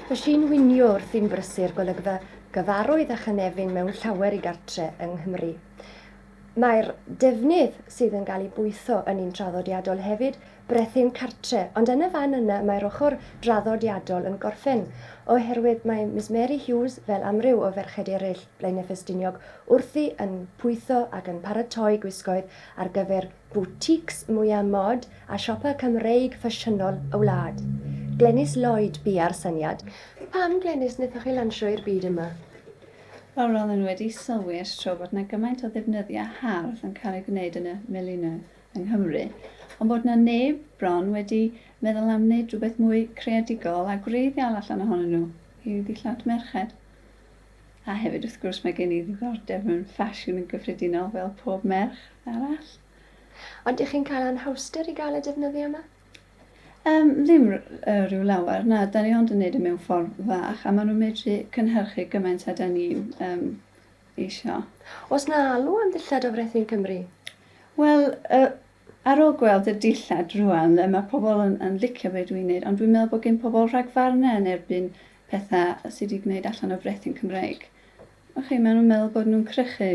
Fy si'n winio wrth i'n brysur golygfa gyfarwydd a chynefin mewn llawer i gartre yng Nghymru. Mae'r defnydd sydd yn cael ei bwytho yn un traddodiadol hefyd, brethyn cartre, ond yn y fan yna mae'r ochr draddodiadol yn gorffen, oherwydd mae Miss Mary Hughes, fel amryw o ferched eraill Blaenau Ffestiniog, wrthi yn pwytho ac yn paratoi gwisgoedd ar gyfer boutiques mwya mod a siopa Cymreig ffasiynol y wlad. Glenys Lloyd bua'r syniad. Pam, Glenys, wnaethoch chi lansio i'r byd yma? Wel, roeddwn i wedi sylwi ers tro bod yna gymaint o ddefnyddiau hardd yn cael eu gwneud yn y milinoedd yng Nghymru, ond bod yna neb bron wedi meddwl am wneud rhywbeth mwy creadigol a gwreiddiol allan ohonyn nhw, i ddillad merched. A hefyd, wrth gwrs, mae gen i ddiddordeb mewn ffasiwn yn gyffredinol fel pob merch arall. Ond dych chi'n cael anhawster i gael y defnyddio yma? Um, ddim rhyw lawer, na, da ni ond yn neud y e mewn ffordd fach, a maen nhw'n medru cynhyrchu gymaint a da ni'n um, eisiau. Os na alw am ddillad o frethu yn Cymru? Wel, y Ar ôl gweld y dillad rŵan, yy, ma' pobl yn yn licio be' dwi'n neud, ond dwi'n meddwl bod gin pobl rhagfarne yn erbyn petha sy 'di gwneud allan o frechu'n Cymreig. Wch chi, ma' nhw'n meddwl bod nhw'n crychu.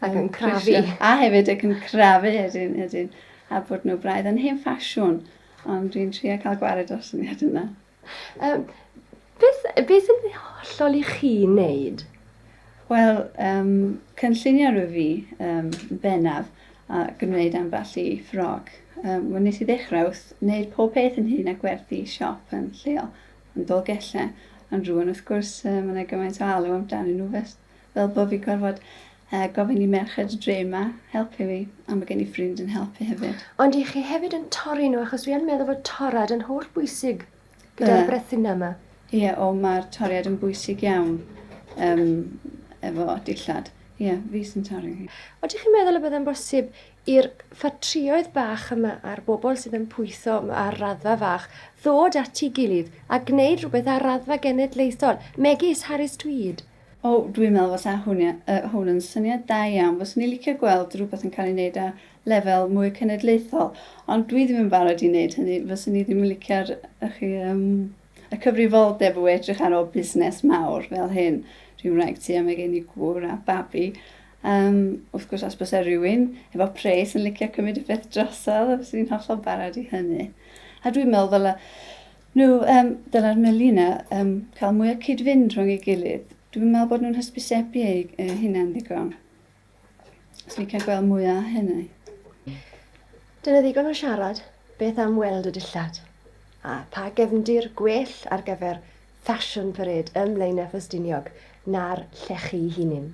Ac yn crafu. A hefyd ac yn crafu, ydyn, ydyn. A bod nhw braidd yn hen ffasiwn. Ond dwi'n trio cael gwared o'r syniad yna. Yym, beth, beth yn hollol i chi wneud? Wel, um, cynllunio rwyf fi um, bennaf a gwneud ambell i ffrog. Um, wel, nes i ddechrau wrth wneud pob peth yn hun a gwerthu siop yn lleol, yn Dolgellau. Ond rwan, wrth gwrs, um, mae yna gymaint o alw amdanyn nhw fel bo fi gorfod yy gofyn i merched y dre 'ma helpu fi, a ma' gen i ffrind yn helpu hefyd. Ond dych chi hefyd yn torri nhw achos dwi yn meddwl fod torrad yn holl bwysig gyda'r yy brethinau 'ma. Ie o ma'r toriad yn bwysig iawn yym efo dillad. Ie fi sy'n torri hi. Ydych chi'n meddwl y byddai'n bosib i'r ffatrïoedd bach yma a'r bobl sydd yn pwytho ar raddfa fach ddod at ei gilydd a gwneud rhywbeth ar raddfa genedlaethol, megis Harris Tweed. O, dwi'n meddwl fasa hwn yn syniad da iawn. Fyswn i'n licio gweld rhywbeth yn cael ei wneud ar lefel mwy cenedlaethol, ond dwi ddim yn barod i wneud hynny. Fyswn i ddim yn licio'r y cyfrifoldeb o edrych ar ôl busnes mawr fel hyn, rhyw wraig tŷ a mae gen i gŵr a babi, Yym, wrth gwrs os byse rhywun efo pres yn licio cymryd y peth drosodd, fyswn i'n hollol barod i hynny. A dwi'n meddwl ddyla nhw, yym, dyla'r meli yna yym, cael mwy o cyd-fynd rhwng ei gilydd. Dwi'n meddwl bod nhw'n hysbysebu eu eu hunain ddigon. Os ni'n cael gweld mwy o hynny. Dyna ddigon o siarad. Beth am weld y dillad? A pa gefndir gwell ar gyfer Fashion Parade ym Mlaenau Ffestiniog na'r llechi hunin?